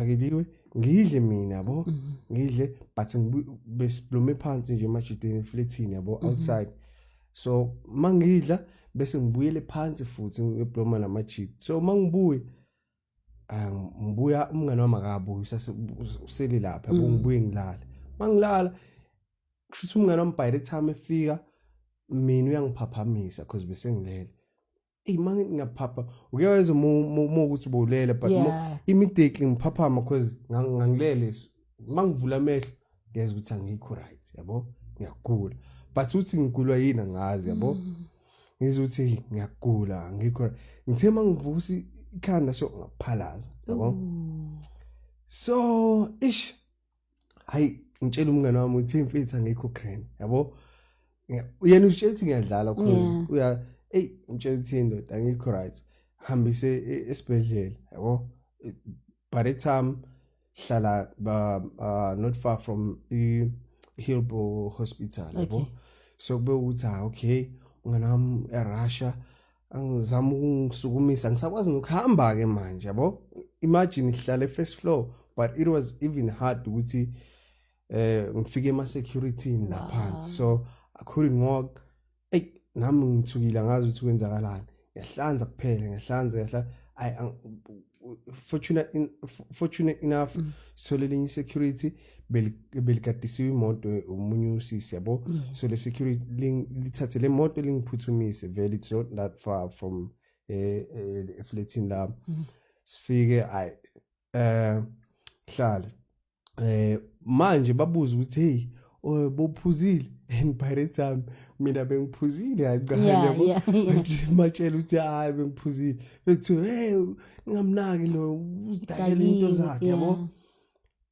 ngakeliwe ngidle mina yabo mhm. ngidle but besiblume phansi nje emajideni eflethini yabo mhm. outside so mangidla bese ngibuyele phansi futhi ngibloma namajidi so mangibuye ah, ngibuya umngane wami akabuyi usele lapha yabo mhm. ngibuye ngilale mangilala kusho ukuthi umngane wami by the time efika mina uyangiphaphamisa because besengilele eyi ma ngingaphapha uke wayeza uma ukuthi ubulele but yeah. immediately ngiphaphama because ngangilele so uma ngivula amehlo ngiyeza ukuthi angikho right yabo ngiyagula but ukuthi ngigulwa yini angazi yabo mm. ngizwa ukuthi ngiyagula angikho ngithe uma ngivusa ikhanda so ngaphalaza yabo so ish hayi ngitshela umngane wami uthi imfitha ngikho grand yabo uyena utshela ukuthi ngiyadlala cause uya ey ngitshela ukuthi indoda ngikho right hambise e-, esibhedlela yabo by the time hlala ba uh, not far from i Hillbrow hospital yabo okay. so kube ukuthi ha ah, okay ungana wami eRussia angizama ukungisukumisa ngisakwazi nokuhamba ke manje yabo imagine ihlale first floor but it was even hard ukuthi eh ngifike ema security naphansi so i couldn't walk ey nami ngithukile ngazi ukuthi kwenzakalani ngiyahlanza kuphela ngiyahlanza ngiyahla fortunate, in, fortunate enough mm. so lelinye security belikadisiwe imoto omunye usisi yabo yeah. so le security lithathe le moto lingiphuthumise vele it's not that far from eh, eh eflatini lami mm. sifike ay eh hlale eh manje babuza ukuthi hey oh, bophuzile and by the time mina bengiphuzile hayi yabo matshela ukuthi hayi bengiphuzile bethi hey ningamnaki lo uzidakela into zakhe yabo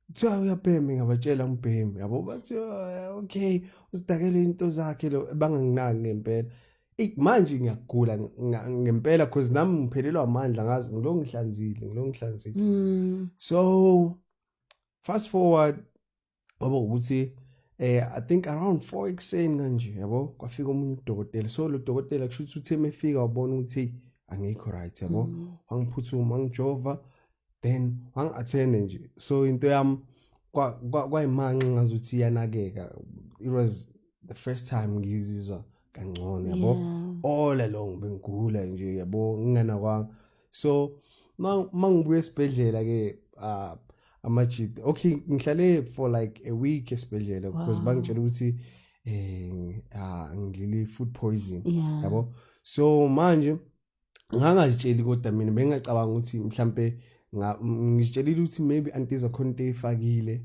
kuthiwa uyabhema ngabatshela ngibhemi yabo bathi oh, okay usidakele into zakhe lo banganginaki ngempela manje ngiyagula ngempela cause nami ngiphelelwa amandla ngazi ngilo ngihlanzile ngilo ngihlanzile mm. so fast forward ngoba ukuthi eh i think around 4 ekseni kanje yabo kwafika omunye udokotela so lo dokotela kusho ukuthi uthe mefika wabona ukuthi angikho right yabo mm. wangiphuthuma wangijova then wangi-attende nje so into yami kwayimanxa ngazuthi iyanakeka it was the first time ngizizwa kangcono yabo all along bengigula nje yabo ngingena kwa so mangibuya esibhedlela ke uh, amajit okay ngihlale for like a week esibhedlela because wow. bangitshela ukuthi eh uh, ngidlile food poison yabo yeah. so manje ngangazitsheli kodwa mina bengingacabanga ukuthi mhlampe ngizitshelile ukuthi maybe antiza khona into eyifakile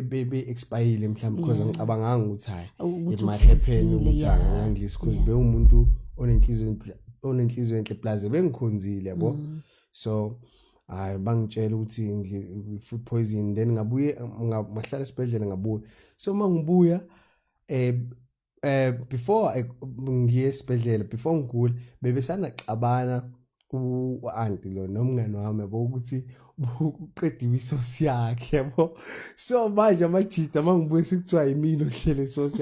bebe e, e, expire mhlawumbe because ngicabanganga ukuthi hayi it might happen ukuthi angangilisi because bewumuntu onenhliziyo onenhliziyo enhle plus bengikhonzile yabo mm. so hayi bangitshela ukuthi ngi-food poison then ngabuye ngahlala esibhedlela ngabuya so uma ngibuya um eh before eh, ngiye esibhedlela before ngigula bebesana xabana u-anti lo nomngane wami yabo ukuthi uqediwe isosi yakhe yabo so manje amajida uma ngibuye sekuthiwa yimina ohlele isosi